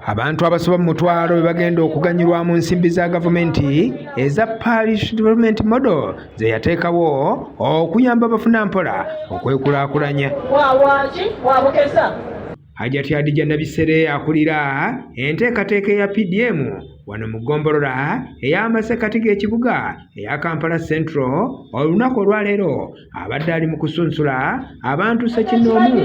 abantu abasoba mu mutwalo be bagenda okuganyulwa mu nsimbi za gavumenti eza parish development model ze yateekawo okuyamba abafuna mpola okwekulaakulanya Hajati Hadija Nabisere akulira enteekateeka eya PDM wano mu ggombolola ey'amasekkati g'ekibuga eya Kampala Central olunaku olwaleero abadde ali mu kusunsula abantu ssekinnoomu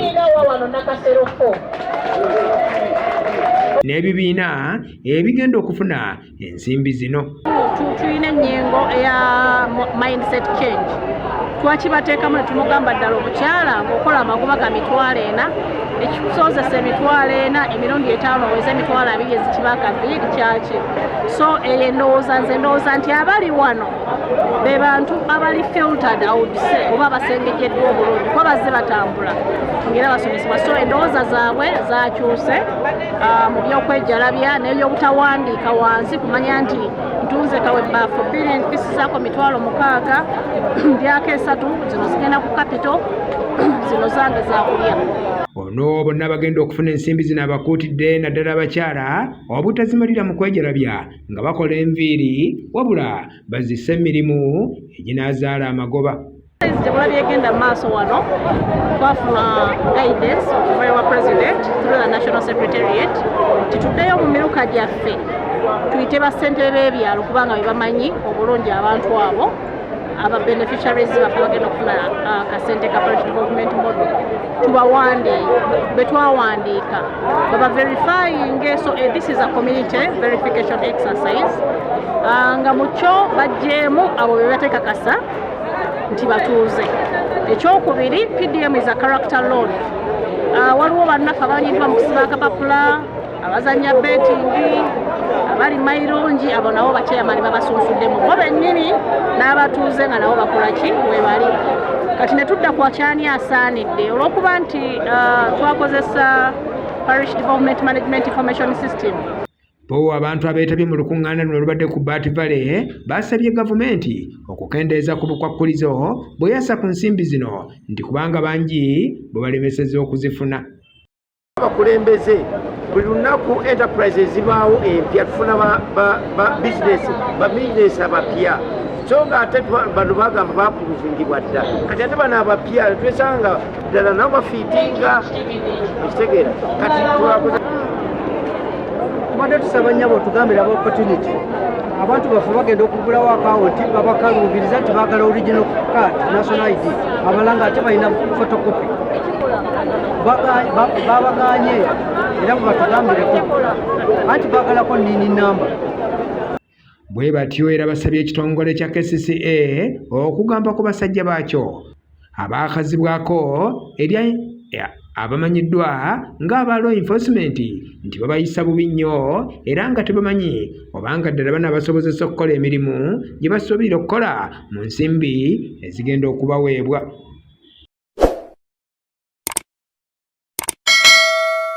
n'ebibiina ebigenda okufuna ensimbi zino tulina enyengo eya mindset change twakibateekamu netumugamba ddala omukyala ngaokola amagoba ga mitwalo ena ekikusozesa emitwalo ena emirundi etaano oweza emitwalo abiri ezikibakaviiri kyaki so eyo endowooza nze ndowooza nti abali wano be bantu abali filtered outse oba basengejeddwa obulungi kuba bazze batambula ngaera basomesebwa so endowooza zaabwe zakyuse ah, mu by'okwejalabya n'ebyobutawandiika wansi kumanya nti ntunze kawe baafu bbiri empisi zaako mitwalo mukaaga mbyako esatu zino zigenda ku kapito zino zange zakulya ono bonna bagenda okufuna ensimbi zino abakuutidde naddala abakyala obutazimalira mu kwejalabya nga bakola enviiri wabula bazise emirimu eginaazaala amagoba Gyemulabye egenda mu maaso wano twafuna guidance okuva ewa president through the national secretariat tituddeyo mu miruka gyaffe tuyite bassentebe b'ebyalo kubanga be bamanyi obulungi abantu abo aba beneficiaries baffe bagenda okufuna uh, kasente ka parish development model tubawandiika betwawandiika baba verifying so eh, this is a community verification exercise uh, nga mukyo bajjeemu abo bebatekakasa nti batuuze ekyokubiri pdm is a character loan ah, waliwo bannaffe abanyiddwa mu kusiba akapapula abazanya betingi abali mairungi abo nabo bakyeyamani babasunsuddemu bo bennyini n'abatuuze nga nabo bakola ki webali kati ne tudda ku akyani asaanidde olw'okuba nti ah, twakozesa parish development management information system Bo abantu abeetabye mu lukuŋŋaana luno olubadde ku Bat Valley baasabye gavumenti okukendeeza ku bukwakkulizo bwe yassa ku nsimbi zino nti kubanga bangi bwe balemeseza okuzifuna. Abakulembeze buli lunaku enterprise ezibaawo empya tufuna ba bizinesi ba bizinesi abapya so ng'ate bano bagamba baapuluvingibwa dda kati ate bano abapya twesanga ddala nabo bafiitinga ekitegeera kati twakoze tubadde tusaba nyabo otugambira aba opportunity abantu baffe bagenda okugulawo akawunti babakaluubiriza nti baagala original card national id abala nga ate balina photocopy babaganye era mubatugambireko anti baagalako nini namba bwe batyo era basabye ekitongole kya kcca okugamba ku basajja baakyo abaakazibwako erya abamanyiddwa ng'aba law enforcement nti babayisa bubi nnyo era nga tebamanyi obanga ddala banaabasobozesa okukola emirimu gye basuubirira okukola mu nsimbi ezigenda okubaweebwa